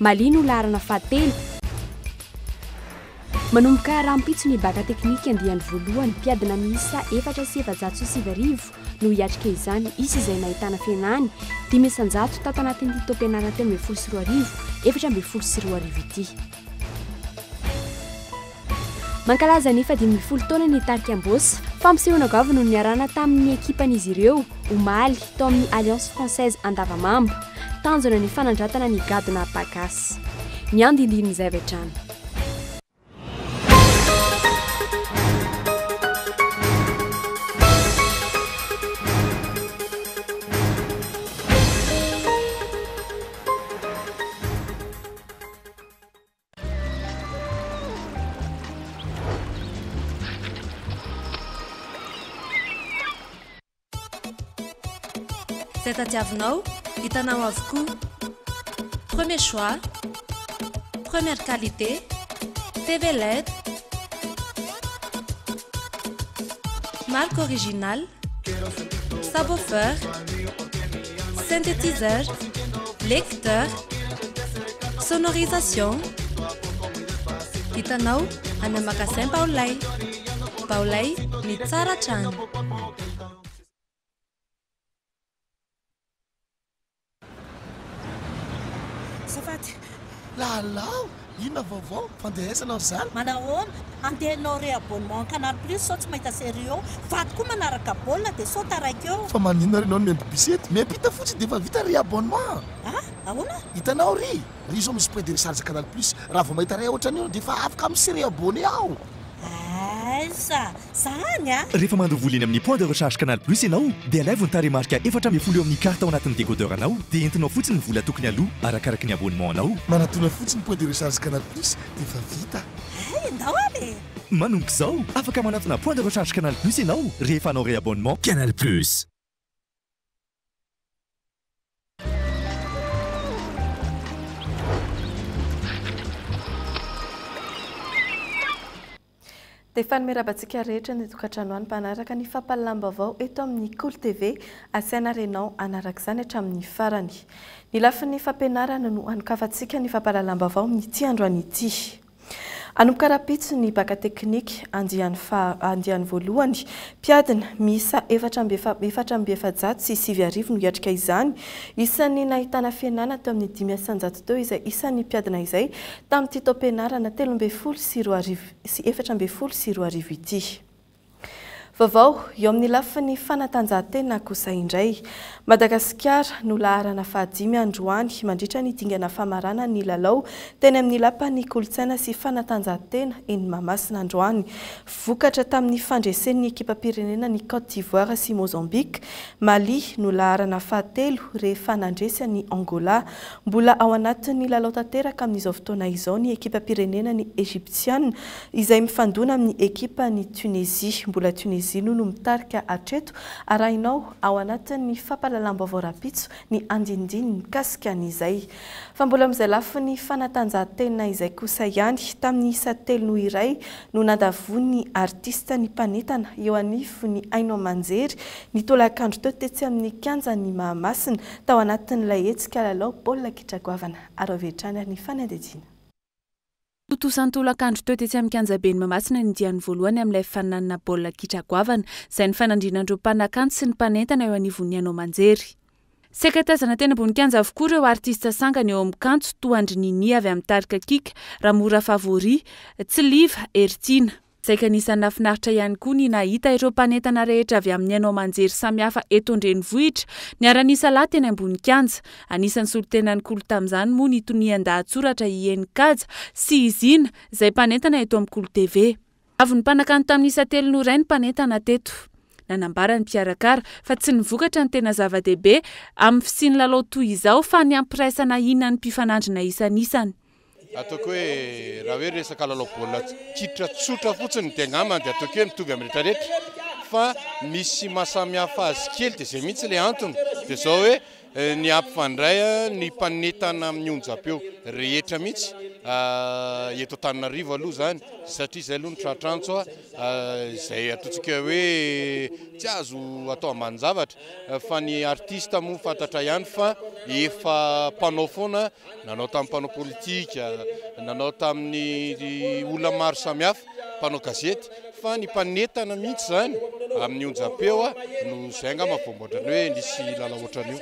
Mali no laharana fahatelo. Manomboka rahampitso ny Bacc teknika andiany voalohany, mpiadina miisa efatra sy efajato sy sivy arivo no hiatrika izany, hisy izay nahitana fihenany dimy isanjato tato anatin'ity taom-pianarana telo ambin'ny folo sy roa arivo, efatra ambin'ny folo sy roa arivo ity. Mankalaza ny faha dimy ambin'ny folo taonany ny tarika Ambôsa. Fampisehoana goavana no niarahana tamin'ny ekipan'izy ireo, omaly, tao amin'ny Alliance Française Andavamamba. Tanjona ny fanandratana ny gadona Apagasy. Ny andindinin'izay avy hatrany. Izay tadiavinao, hitanao avokoa. Premier choix, première qualité, TV led, marque originale, subwoofer, synthétiseur, lecteur, sonorisation, hitanao any amin'ny magasin Baolay. Baolay ny tsara hatrany. Azafady, lalao. Inona vaovao? Fandehaizana ry zala? Manahoana? Handehanao re abonnement canal plus sao tsy mahita serie eo? Fady koa manaraka baolina dia sao taraiky eo. Fa maninona ary ianao no miambibisy eto? Miampita fotsiny dia efa vita ry abonnement. Ah? Ahoana? Hitanao ry ry izao misy point de recharge canal plus raha vao mahita ray ohatran'io aho dia efa afaka mi se re-abonner aho. Aiza zany a? Rehefa mandro vola eny amin'ny Point de recharge Canal Plus ianao dia alaivo ny tarehimarika efatra ambin'ny folo eo amin'ny carte ao anatin'ny décodeur anao dia entinao fotsiny ny vola tokony aloa arakaraky ny abonnement anao. Manatona fotsiny Point de recharge Canal Plus dia efa vita. Hay andao ary e! Manomboka izao, afaka manatona Point de recharge Canal Plus ianao rehefa hanao réabonnement. Canal Plus. Dia fanome rabantsika rehetra ny tokantrano any mpanaraka ny fampahalalam-baovao eto amin'ny Kolo TV. Asiana ary ianao hanaraka izany hatramin'ny farany. Ny lafiny fampianarana no anokafantsika ny fampahalalam-baovao amin'ity androany ity. Hanomboka rahampitso ny Bacc teknika andiany faha andiany voalohany. Mpiadina miisa efatra amby efa efatra amby efajato sy sivy arivo no hiatrika izany. Isan'ny nahitana fihenana teo amin'ny dimy isanjato teo izay isan'ny mpiadina izay tamin'ity taom-pianarana telo ambin'ny folo sy roa arivo sy efatra ambin'ny folo sy roa arivo ity. Vaovao eo amin'ny lafiny fanatanjahantena kosa indray. Madagasikara no laharana fahadimy androany mandritra ny dingana famaranana ny lalao teny amin'ny lapan'ny kolontsaina sy fanatanjahantena eny Mahamasina androany. Vokatra tamin'ny fandresen'ny ekipam-pirenena ny Côte d'Ivoire sy Mozambique. Mali no laharana fahatelo rehefa nandresy an'i Angola. Mbola ao anatin'ny lalao tanteraka amin'izao fotoana izao ny ekipam-pirenenan'i Egyptian izay mifandona amin'ny ekipan'i Tunisie. Mbola Tunisie aloha no mitarika hatreto. Arahinao ao anatin'ny fampahalalam-baovao rahampitso ny andinindininy mikasika an'izay. Fa mbola amin'izay lafiny fanatanjahantena izay kosa ihany, tamin'ny isa telo noho iray no nandavoan'ny artista ny mpanentana eo anivon'ny haino aman-jery ny tolakandro teo tetsy amin'ny kianjan'i Mahamasina tao anatin'ilay hetsika lalao baolina kitra goavana. Araho avy hatrany ary ny fanadihadiana. Tontosa an-tolakandro teo tetsy amin'ny kianjaben'i Mahamasina ny diany voalohany amin'ilay faninanana baolina kitra goavana, izay nifanandrinan'ireo mpanakanto sy ny mpanentana eo anivon'ny haino aman-jery. Saika tazana teny ambony kianja avokoa ireo artista sangany eo amin'ny kanto, toa an-dry Nini avy amin'ny tarika Kika, Ramora Favori, Tsiliva, Heritiana. Saika anisan'ny nahafinaritra ihany koa ny nahita ireo mpanentana rehetra avy amin'ny haino aman-jery samihafa eto an-drenivohitra niara-nisa lahy teny ambony kianja. Anisan'ny solontenan'ny Kolo tamin'izany moa ny tonian-dahatsoratra i Eny Kaja sy i Zina izay mpanentana eto amin'ny Kolo TV. Avy nimpanakanto tamin'ny isa telo noray ny mpanentana teto. Nanambara ny mpikarakara fa tsy ny vokatra no tena zava-dehibe amin'ny fisian'ny lalao toy izao fa ny hampiraisana hina ny mpifanandrina isan'isany. Ataoko hoe raha hoe resaka lalao baolina kitra tsotra fotsiny dia angamba dia ataoko hoe mitovy amin'ny rehetra rehetra fa misy mahasamihafa azy kely dia izay mihitsy ilay antony dia izao hoe eh, ny hampifandray eh, ny mpanetana amin'ny onjam-peo rehetra mihitsy ah, eto Antananarivo aloha izany satria izay aloha ny tratrantso ah, ah, izay ataontsika hoe tsy azo atao ambanin-javatra fa ny artista moa fantatra ihany fa efa mpanao foana Nanao tamin'ny mpanao politika, nanao tamin'ny olona maro samihafa, mpanao gazety, fa ny mpanentana mihitsy izany amin'ny onjam-peo no izay angamba vao mbola ny hoe nisy lalao ohatran'io.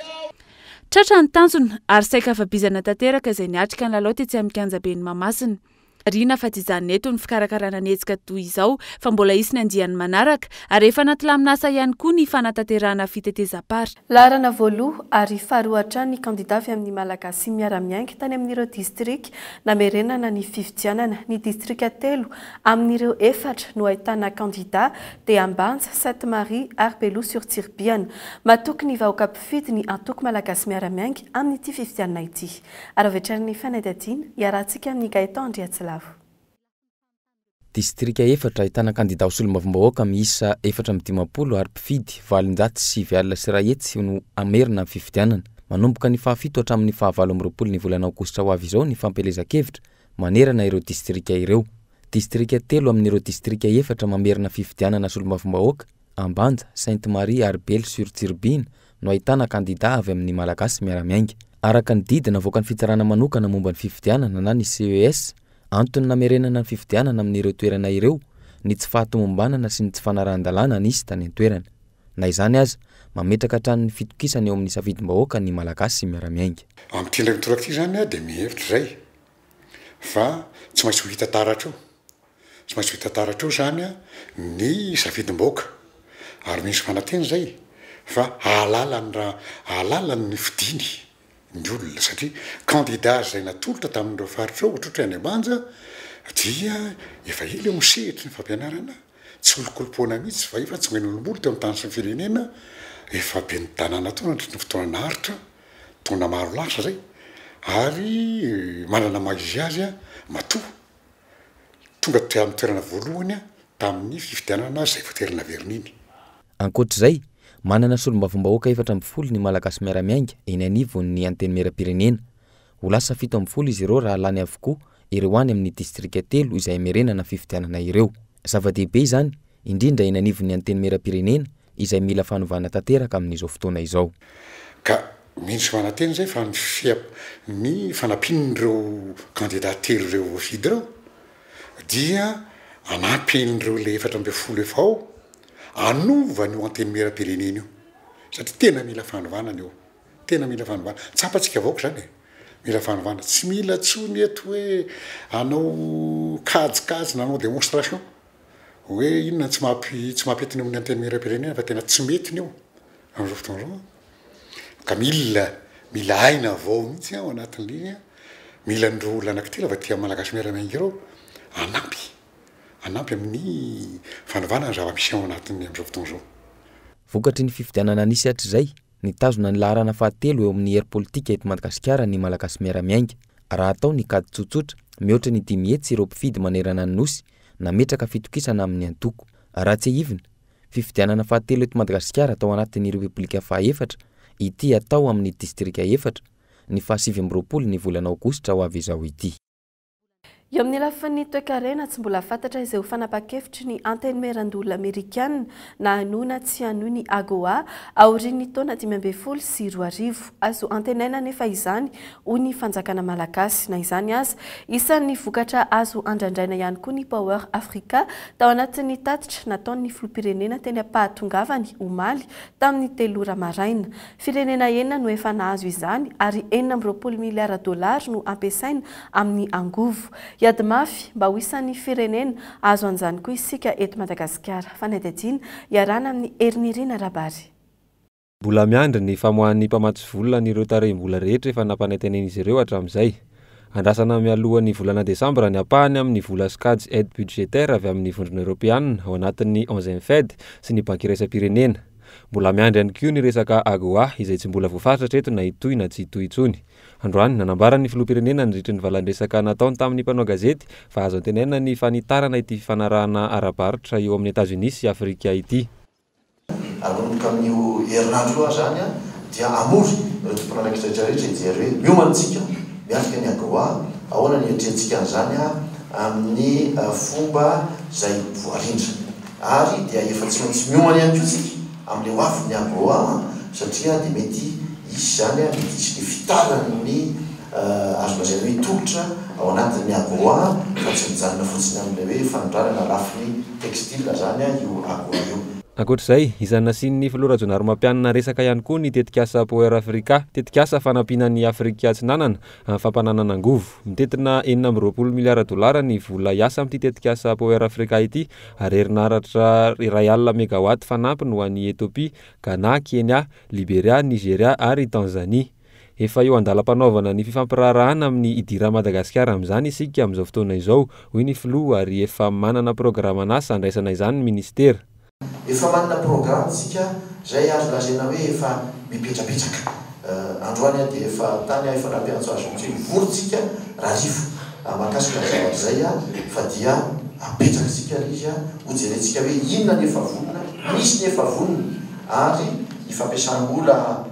Tratra ny tanjona ary saika afa-bizana tanteraka izay niatrika ny lalao tetsy amin'ny kianjaben'i Mahamasina. Marihina fa tsy hijanona eto ny fikarakarana ny hetsika toy izao fa mbola hisy ny andiany manaraka ary efa anaty laminasa ihany koa ny fanatanterahana fitetezam-par. Laharana voaloha ary faharoa hatrany ny kandida avy amin'ny Malagasy miara-miainga tany amin'ireo distrika namerenana ny fifidianana. Ny distrika telo amin'ireo efatra no ahitana kandida dia Ambanja, Sainte Marie ary Beloha sur Tsiribihana. Matoky ny vahoaka mpifidy ny Antoko Malagasy Miara-miainga amin'ity fifidianana ity. Ary avy hatrany ny fanadihadiana, iarahantsika amin'i Gaëtan Andriatsilavo. Distrika efatra ahitana kandidà ho solombavambahoaka miisa efatra amby dimampolo ary mpifidy valonjato sy sivy alina sy iray hetsy no hamerina amin'ny fifidianana. Manomboka ny fahafito hatramin'ny fahavalo amby roapolo ny volana aogositra ho avy izao ny fampielezan-kevitra manerana ireo distrika ireo. Distrika telo amin'ireo distrika efatra mamerina fifidianana solombavambahoaka, Ambanja, Sainte Marie ary Belle sur Tsirobiana, no ahitana kandidà avy amin'ny Malagasy miara-miainga. Araka ny didy navoakan'ny Fitsarana Manokana momba ny Fifidianana na ny CES, antony namerenana ny fifidianana amin'ireo toerana ireo ny tsy fahatomombanana sy ny tsy fanarahan-dalàna nisy tany an-toerana. Na izany aza, mametraka hatrany ny fitokisany eo amin'ny safidim-bahoaka ny Malagasy miara-miainga. Amin'ity indray mitoraka ity izany aho dia mihevitra izay fa tsy maintsy ho hita taratra eo Tsy maintsy vita tara hatreo izany ny safidim-bahoaka ary misy fanateny izay fa hahalala ny raha hahalala ny nofidiny ny olona satria kandida izay natolotra tamin'ireo faritra ireo ohatrohatry any Ambanja dia efa ela eo ny sehatry ny fampianarana tsy olokolopoana mihitsy fa efa tsy mba nolombolo teo amin'ny tany sy ny firenena efa ben'ny tanàna teo nandritry ny fotoana naharitra taona maro lasa izay ary manana maha izy azy matoa Tonga teo amin'ny toerana voalohany tamin'ny fifidianana izay voatery naverina iny. Ankoatra izay, manana solombavambahoaka efatra ambin'ny folo ny Malagasy miara-miainga eny anivon'ny Antenimierampirenena. Ho lasa fito ambin'ny folo izy ireo raha lany avokoa ireo any amin'ny distrika telo izay hamerenana fifidianana ireo. Zava-dehibe izany, indrindra eny anivon'ny Antenimierampirenena izay mila fanovana tanteraka amin'izao fotoana izao. Ka mino sy manantena izay fa ny fia, ny fanampian'ireo kandida telo ireo voafidy ireo dia hanampy an'ireo ilay efatra ambin'ny folo efa ao hanova an'io Antenimierampirenena io satria tena mila fanovana ny eo, tena mila fanovana. Tsapantsika vahoaka izany e! Mila fanovana. Tsy mila intsony eto hoe hanao kajikajy na hanao démonstration. hoe inona ny tsy maha tsy maha pety ny amin'ny antenimierampirenena fa tena tsy mety ny eo amin'izao fotoana izao ka mila mila aina avao mihitsy ao anatin'ireny mila an'ireo olona anankitelo avy aty amin'ny Malagasy miara-miainga ireo hanampy hanampy amin'ny fanovana ny zava-misy ao anatin'ny amin'izao fotoana izao. Vokatry ny fifidianana nisy hatrizay, Nitazona ny laharana fahatelo eo amin'ny hery politika eto Madagasikara ny Malagasy Miara-miainga. Raha atao ny kajy tsotsotra, mihoatra ny dimy hetsy ireo mpifidy manerana ny Nosy nametraka fitokisana amin'ny antoko. Raha tsiahivina, fifidianana fahatelo eto Madagasikara tao anatin'ny Repoblika fahaefatra ity hatao amin'ny distrika efatra, ny fahasivy amby roapolo ny volana aogositra ho avy izao ity. Eo amin'ny lafiny toekarena, tsy mbola fantatra izay ho fanapahan-kevitry ny Antenimierandoholona Amerikana na hanoina tsy hanohy ny AGOA aorian'ny taona dimy ambin'ny folo sy roa arivo. Azo antenaina anefa izany, hoy ny fanjakana malagasy. Na izany aza, isan'ny vokatra azo andrandraina ihany koa ny Power Africa tao anatin'ny tatitra nataon'ny filoham-pirenena teny am-pahatongavany omaly tamin'ny telo ora maraina. Firenena enina no efa nahazo izany ary enina amby roapolo miliara dollars no ampiasaina amin'ny angovo. Hiady mafy mba ho isan'ny firenena hahazo an'izany koa isika eto Madagasikara. Fanadihadiana iarahana amin'ny Herinirina Rabary. Mbola miandry ny famoahan'ny mpamatsy vola an'ireo tarehim-bola rehetra efa nampanaintainen'izy ireo hatramin'izay. Andrasana mialohan'ny volana desambra ny ampahany amin'ny vola sokajy aide budgétaire avy amin'ny Vondrona Eoropeanina ao anatin'ny onzième Fed sy ny Banky Iraisam-pirenena. Mbola miandry ihany koa ny resaka AGOA izay tsy mbola voafaritra hatreto na hitohy na tsy hitohy intsony. Androany, nanambara ny Filoham-pirenena nandritry ny valan-dresaka nataony tamin'ny mpanao gazety fa azo antenaina ny fanitarana ity fifanarahana ara-barotra eo amin'i Etazonia sy Afrika ity. Hanomboka amin'io herinandro io aza any dia hamory ireo tompon'andraikitra rehetra rehetra hijery hoe miomana isika miatrika ny AGOA, ahoana ny hiatrehantsika an'izany amin'ny fomba izay voarindra. Ary dia efa tsy maintsy miomana ihany koa isika amin'ilay ho avin'ny AGOA satria dia mety hisy izany, mety hisy ny fitaran'ny azo lazaina hoe tolotra ao anatin'ny AGOA fa tsy mijanona fotsiny amin'ilay hoe fanondranana lafiny textile zany io akora io. Ankoatra izay, izany nasian'ny filoha Rajaonarimampianina resaka ihany koa ny tetikasa Power Africa, tetikasa fanampiana an'i Afrika Atsinanana amin'ny fampananana angovo. Mitentina enina amby roapolo miliara dolara ny vola hiasa amin'ity tetikasa Power Africa ity ary herinaratra iray alina megawatt fanampiny ho an'i Ethiopia, Ghana, Kenya, Liberia, Nigeria ary Tanzanie. Efa eo an-dalam-panaovana ny fifampiraharahana amin'ny idiran'i Madagasikara amin'izany isika amin'izao fotoana izao, hoy ny filoha ary efa manana programan'asa handraisana izany ny minisitera. Efa manana programa isika izay azo lazaina hoe efa mipetrapetraka. Androany aho dia efa tany aho, efa nampiantso azy mihitsy hoe mivory isika Rarivo mahakasika ny zavatra izay fa dia hapetraka isika ilay izy, hojerentsika hoe inona ny efa vonona, misy ny efa vonona ary ny fampiasam-bola.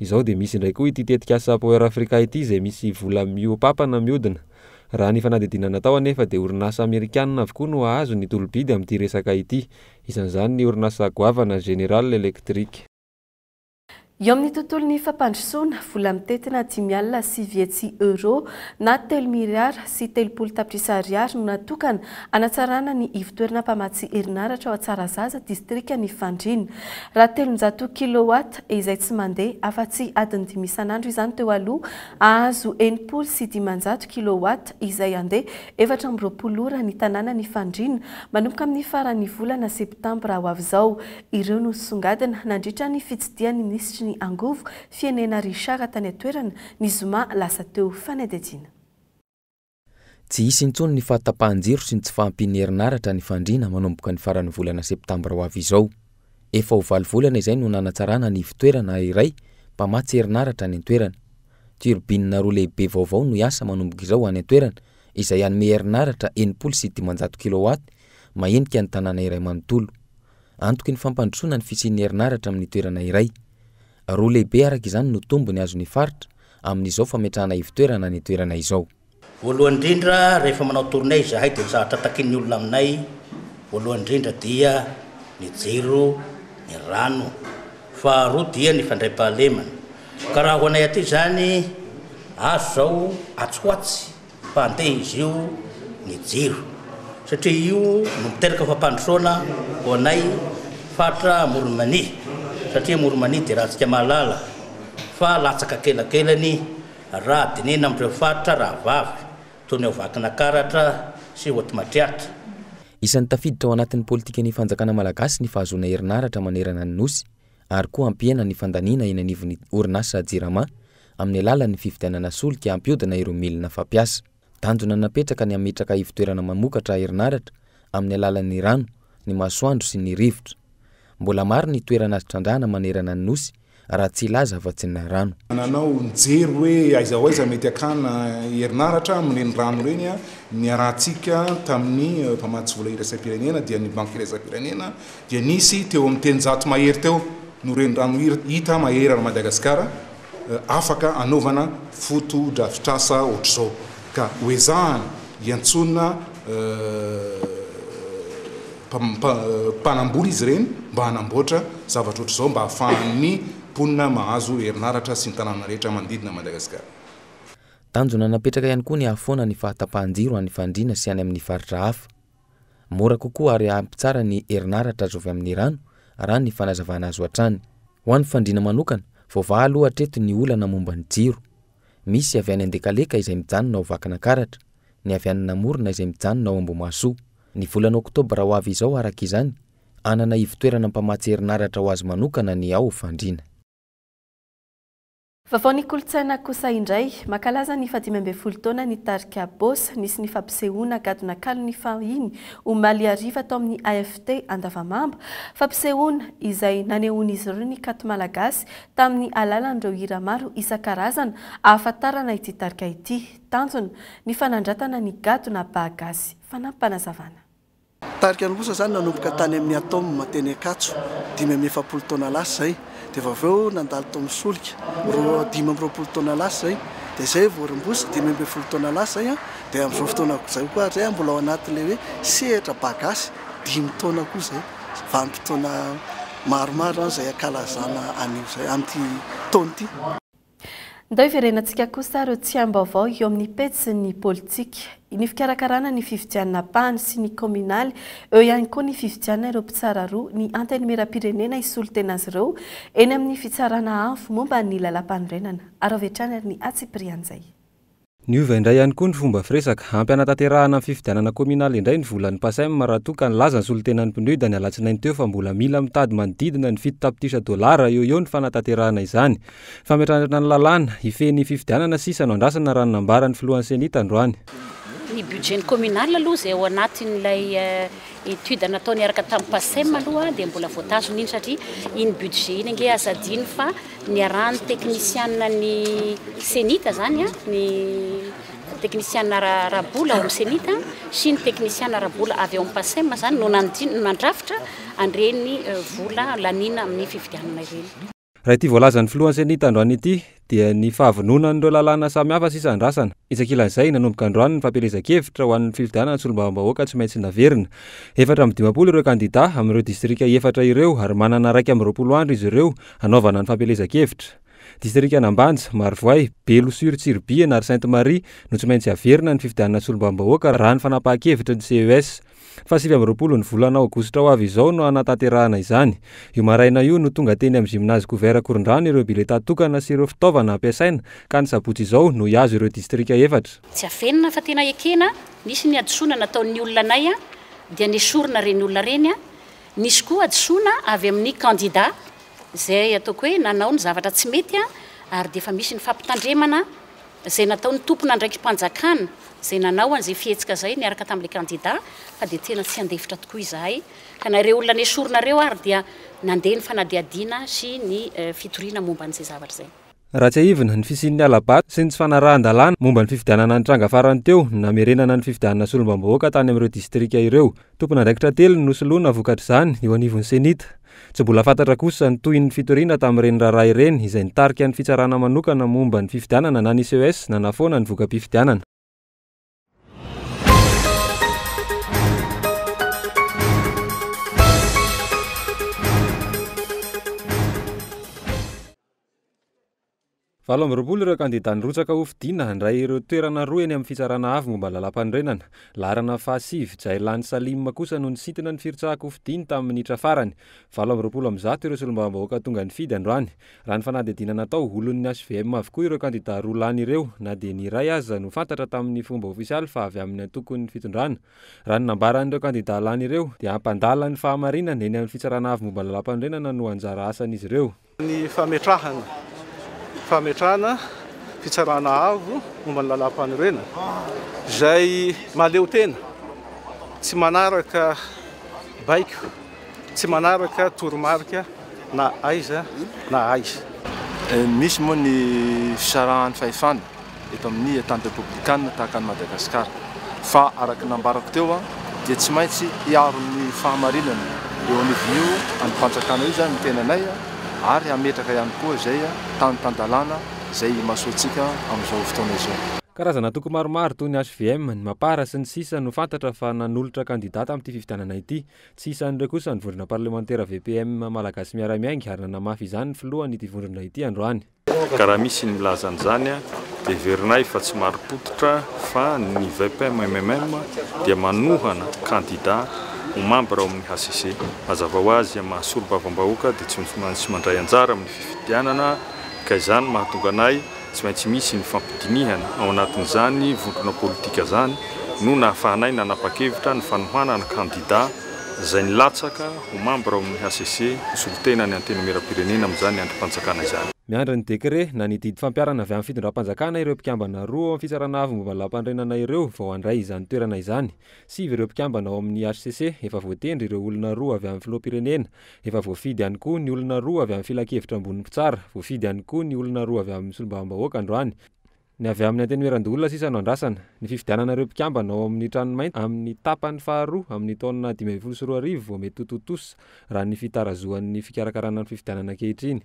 Izao dia misy indray koa ity tetikasa Power Africa ity izay misy vola mihoa-papana mihodina. Raha ny fanadihadiana natao anefa dia orinasa amerikanina avokoa no hahazo ny tolo-bidy amin'ity resaka ity. Isan'izany ny orinasa goavana General Electric. Eo amin'ny tontolon'ny fampandrosoana, vola mitentina dimy alina sy vitsy euro na telo miliara sy telopolo tapitrisa ariary no natokana hanatsarana ny ivontoerana mpamatsy herinaratra ao Tsarazaza, distrikan'i Fandriana. Raha telonjato kilowatt, izay tsy mandeha afa-tsy adiny dimy isan'andro izany teo aloha, hahazo enimpolo sy dimanjato kilowatt izay handeha efatra amby roapolo ora ny tanàna ny fandriana, manomboka amin'ny faran'ny volana septambra ho avy izao. Ireo no nosongadina nandritra ny fitsidihan'ny minisitry ny Angovo, Fienena Richard tany an-toerana, ny zoma lasa teo. Fanadihadiana. Tsy hisy intsony ny fahatapahan-jiro sy ny tsy fahampian'ny herinaratra ny fandriana manomboka ny faran'ny volana septambra ho avy izao. Efa ho valo volana izay no nanatsarana ny ivon-toerana iray mpamatsy herinaratra any an-toerana. Turbine roa lehibe vaovao no hiasa manomboka izao any an-toerana izay hanome herinaratra enimpolo sy dimanjato kilowatt mahenika ny tanàna iray manontolo. Antoky ny fampandrosoana ny fisian'ny herinaratra amin'ny toerana iray. Roa lehibe araka izany no tombony azon'ny faritra amin'izao fametrahana ivon-toerana any an-toerana izao. Voalohany indrindra, rehefa manao tournée izahay dia ny zavatra takian'ny olona aminay voalohany indrindra dia ny jiro, ny rano, faharoa dia ny fandraipahalemana. Ka raha ho anay aty izany, azo izao atsy ho atsy fa andeha izy io ny jiro satria io no miteraka fampandrosoana ho anay faritra Amoron'i Mania satria Amoron'i Mania dia raha antsika mahalala fa latsaka kelakelany raha dinihina amin'ireo faritra rahavavy toy ny ao Vakinakaratra sy Hoatimatriatra. Isan'ny tafiditra ao anatin'ny politikan'ny fanjakana malagasy ny fahazoana herinaratra manerana ny Nosy, ary koa hampihena ny fandaniana eny anivon'ny orinasa Jirama amin'ny alalan'ny fividianana solika hampihodina ireo milina fampiasa. Tanjona napetraka ny hametraka ivon-toerana mamokatra herinaratra amin'ny alalan'ny rano, ny masoandro sy ny rivotra. Mbola maro ny toerana azo trandrahana manerana ny Nosy raha tsy hilaza afa-tsy ny rano. Nanao nijery hoe aiza ho aiza mety hakana herinaratra amin'ireny rano ireny niarahantsika tamin'ny mpamatsy vola iraisam-pirenena dia ny Banky iraisam-pirenena dia nisy teo amin'ny telonjato mahery teo no renirano hita mahery an'i Madagasikara afaka hanaovana fotodrafitrasa ohatr'izao ka hoezahana hiantsoana mpanamboly izy ireny mba hanamboatra zavatra ohatr'izao mba hahafahan'ny mponina mahazo herinaratra sy ny tanàna rehetra manodidina an'i Madagasikara. Tanjona napetraka ihany koa ny hahafoana ny fahatapahan-jiro any Fandriana sy any amin'ny faritra hafa. Mora kokoa ary ampy tsara ny herinaratra azo avy amin'ny rano, raha ny fanazavana azo hatrany. Ho an'ny fandriana manokana, voavaha aloha hatreto ny olana momba ny jiro. Misy avy any Andekaleka izay mijanona ao Vakinakaratra, ny avy any Namorona izay mijanona ao Ambohimahasoa. Ny volana oktobra ho avy izao araka izany, hanana ivotoerana mpamatsy herinaratra ho azy manokana ny ao Fandriana. Vaovaon'ny kolontsaina kosa indray, mankalaza ny fahadimy ambin'ny folo taona ny tarika Boss. Nisy ny fampisehoana gadona kalon'ny fahiny, omaly hariva, tao amin'ny AFT Andavamamba. Fampisehoana izay nanehoan'izy ireo ny kanto malagasy tamin'ny alalan'ireo hira maro isan-karazana ahafantarana ity tarika ity. Tanjona ny fanandratana ny gadona Bah Gasy. Fanampim-panazavana. Tarika any kosa izany nanomboka tany amin'ny Atome teny Ankatso, dimy amby efapolo taona lasa izay, dia vao avy eo nandalo tao amin'ny Solika, roa, dimy amby roapolo taona lasa izay, dia izay vao Rambosy, dimy ambin'ny folo taona lasa izay, dia amin'izao fotoana izao koa ary izay mbola ao anatin'ilay hoe sehatra Ba Gasy, dimy taona koa izay, vanim-potoana maromaro izany izay ankalazana an'io izay, amin'ity taona ity. Ndao hiverenantsika kosa ireo tsiambaovao eo amin'ny pejy ny politika, ny fikarakarana ny fifidianana ampahany sy ny kaominaly, eo ihany koa ny fifidianana ireo mpitsara roa ny Antenimierampirenena hisolo tena azy ireo eny amin'ny fitsarana avo momba ny Lalàmpanorenana. Araho avy hatrany ary ny antsipirian'izay. Niova indray ihany koa ny fomba firesaka. Ampy hanatanterahana ny fifidianana kaominaly indray ny volan'ny Pacem raha toa ka nilaza ny solontenan'ny PNUD ny alatsinainy teo fa mbola mila mitady manodidina ny fito tapitrisa dolara eo eo ny fanatanterahana izany. Fametrahana ny lalàna, hifehy ny fifidianana sisa no andrasana raha ny nambaran'ny filohan'ny Ceni tandroany. Ny budget-n'ny kaominaly aloha izay ao anatin'ilay Étude natao niaraka tamin'ny PACEM aloha dia mbola voatazona iny satria iny budget iny ange aza adino fa niarahan'ny teknisianina ny CENIT zany ny teknisianina ara-bola ao amin'ny CENIT sy ny teknisianina ara-bola avy ao amin'ny PACEM zany no nandrafitra an'ireny euh, vola laniana amin'ny fividianana ireny. Raha ity voalazan'ny filohan'ny Ceni tandroany ity dia ny fahavononan'ireo lalàna samihafa sisa andrasana. Isakilan'izay, nanomboka androany ny fampielezan-kevitra ho an'ny fifidianana solombavambahoaka tsy maintsy naverina. Efatra amby dimampolo ireo kandidà amin'ireo distrika efatra ireo ary manana iraika amby roapolo andro izy ireo hanaovana ny fampielezan-kevitra. Distrikan'Ambanja, Marovoay, Belo sur Tsiribihina ary Sainte Marie no tsy maintsy haverina ny fifidianana solombavambahoaka raha ny fanapahan-kevitry ny CES. Faha sivy amby roapolo ny volana aogositra ho avy izao no hanatanterahana izany. Io maraina io no tonga teny amin'ny Gymnase Gouvert Korondrano ireo biletà tokana sy ireo fitaovana hampiasaina ka ny sabotsy izao no hihazo ireo distrika efatra. Tsy avenona fa tena ekena, nisy ny hadisoana nataon'ny olona anay dia nesorina ireny olona ireny, nisy koa hadisoana avy amin'ny kandida izay ataoko hoe nanao ny zavatra tsy mety ary dia efa misy ny fampitandremana izay nataon'ny tompon'andraiki-panjakana izay nanao an'izay fihetsika izay niaraka tamin'ilay kandida fa dia tena tsy handefitra tokoa izahay ka na ireo olona nesorina ireo ary dia nandeha ny fanadihadiana sy ny fitoriana momba an'izay zavatra izay. Raha tsiahivina, ny fisian'ny hala-bato sy ny tsy fanarahan-dalàna momba ny fifidianana nitranga farany teo ny namerenana ny fifidianana solombambahoaka tany amin'ireo distrika ireo Tompon'andraikitra telo no nosoloina vokatr'izany eo anivon'ny Cenit. Tsy mbola fantatra kosa ny tohin'ny fitoriana tamin'ireny raharaha ireny izay nitarika ny Fitsarana manokana momba ny fifidianana na ny CES nanafoana ny voka-pifidianana. Valo amby roapolo ireo kandidà nirotsaka hofidiana handray ireo toerana roa eny amin'ny Fitsarana Avo momba ny Lalàmpanorenana. Laharana fahasivy, Jailany Salim kosa no nisintona ny firotsaham-pofidiny tamin'ny minitra farany. Valo amby roapolo amby zato ireo solombavambahoaka tonga nifidy androany. Raha ny fanadihadiana natao, olon'ny hvm avokoa ireo kandidà roa lany ireo, na dia ny iray aza no fantatra tamin'ny fomba ofisialy fa avy amin'ny antokon'ny fitondrana. Raha ny nambaran'ireo kandidà lany ireo, dia hampandala ny fahamarinana eny amin'ny Fitsarana Avo momba ny Lalàmpanorenana no anjara asan'izy ireo. Ny fametrahana fametrahana fitsarana avo momba ny lalam-panorenana izay mahaleotena, tsy manaraka baiko, tsy manaraka toromarika na aiza na aiza. Misy moa ny fisarahan'ny fahefana eto amin'ny tany repoblikanina tahaka an'i Madagasikara. Fa araka ny nambarako teo dia tsy maintsy hiaro ny fahamarinana eo anivon'io andrim-panjakana io izany ny tenanay ary hametraka ihany koa izay tany tan-dalàna izay imasoantsika amin'izao fotoana izao. Karazana antoko maromaro toy ny hvm, ny Mapar sy ny sisa no fantatra fa nanolotra kandidà tamin'ity fifidianana ity. Tsy isan'ireo kosa ny vondrona parlemantera VPM Malagasy Miara-Miainga ary nanamafy izany ny filohan'ity vondrona ity androany. Ka raha misy ny milaza an'izany, heverinay fa tsy marim-pototra fa ny VPM-MMM dia manohana kandida ho mambra ao amin'ny hcc. Hazavao azy amin'ny maha solombavambahoaka dia tsy maintsy mandray anjara amin'ny fifidianana ka izany mahatonga anay tsy maintsy misy ny fampidinihana ao anatin'izany vondrona politika izany no nahafahanay nanapa-kevitra ny fanohanana kandida izay nilatsaka Ho mambra ao amin'ny hcc, ho solontenan'ny Antenimierampirenena amin'izany andrim-panjakana izany. Miandry ny dekre na ny didy fampiharana avy amin'ny fitondram-panjakana ireo mpikambana roa ao amin'ny Fitsarana Avo momba ny Lampanorenana ireo vao handray izany toerana izany. Sivy ireo mpikambana ao amin'ny hcc efa voatendry ireo olona roa avy amin'ny Filoham-pirenena. Efa voafidy ihany koa ny olona roa avy amin'ny Filankevitra ambonin'ny Mpitsara. Voafidy ihany koa ny olona roa avy amin'ny Solombavambahoaka androany. Ny avy amin'ny Antenimierandoholona sisa no andrasana. Ny fifidianana ireo mpikambana ao amin'ny Tranomainty amin'ny tapany faharoa amin'ny taona dimy ambin'ny folo sy roa arivo vao mety ho tontosa, raha ny fitarazohan'ny fikarakarana ny fifidianana ankehitriny.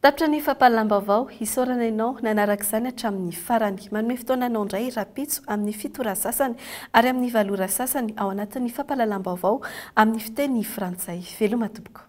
Tapitra ny fampahalam-baovao, isaorana ianao nanaraka izany hatramin'ny farany. Manome fotoana anao indray rahampitso amin'ny fito ora sasany ary amin'ny valo ora sasany ao anatin'ny fampahalalam-baovao amin'ny fiteny frantsay. Veloma tompoko.